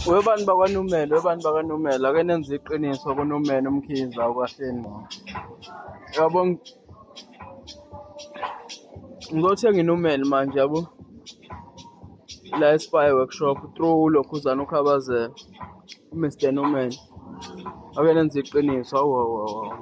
Webantu bakwaNumelo, webantu bakwaNumelo, ake nenze iqiniso kuNumelo uMkhize awukahleni ngqo. Yabo ngi- ngizothenga iNumelo manje yabo la eSpy Workshop through uLokhuzana uKhabazela uMr Numelo. Ake nenze iqiniso awu awu awu. awu.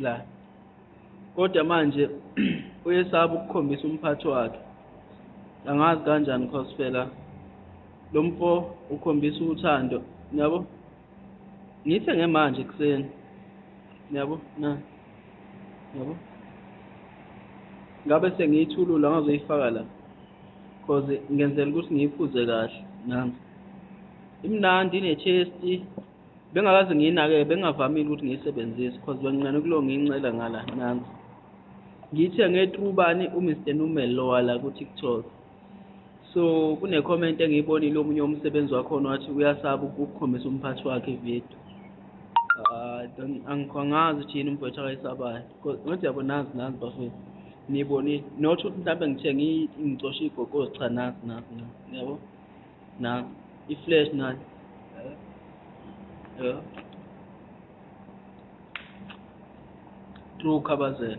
la kodwa manje uyesaba ukukhombisa umphathi wakhe angazi kanjani cause phela lo mfo ukhombisa uthando niyabo ngithe ngemanje ekuseni niyabo na niyabo ngabe sengiyithulula ngazoyifaka la cause ngenzela ukuthi ngiyiphuze kahle nami imnandi inechesti bengakaze ngiyinake bengavamile ukuthi ngiyisebenzise because benginqane kulo ngiyincela ngala nansi ngithe ngetrubani uMr Numel lo wala ku TikTok so kune comment engiyibonile omunye umsebenzi wakhona wathi uyasaba ukukhombisa umphathi wakhe video ah, angikhongazi thina umfowethu akayisabayo ngothi yabo nazi nazi bafethu nibonile not ukuthi mhlawumbe ngithe ngicoshe igogozi cha nazi nazi nazi yabo Na, i-flash na. Yeah. True Khabazela.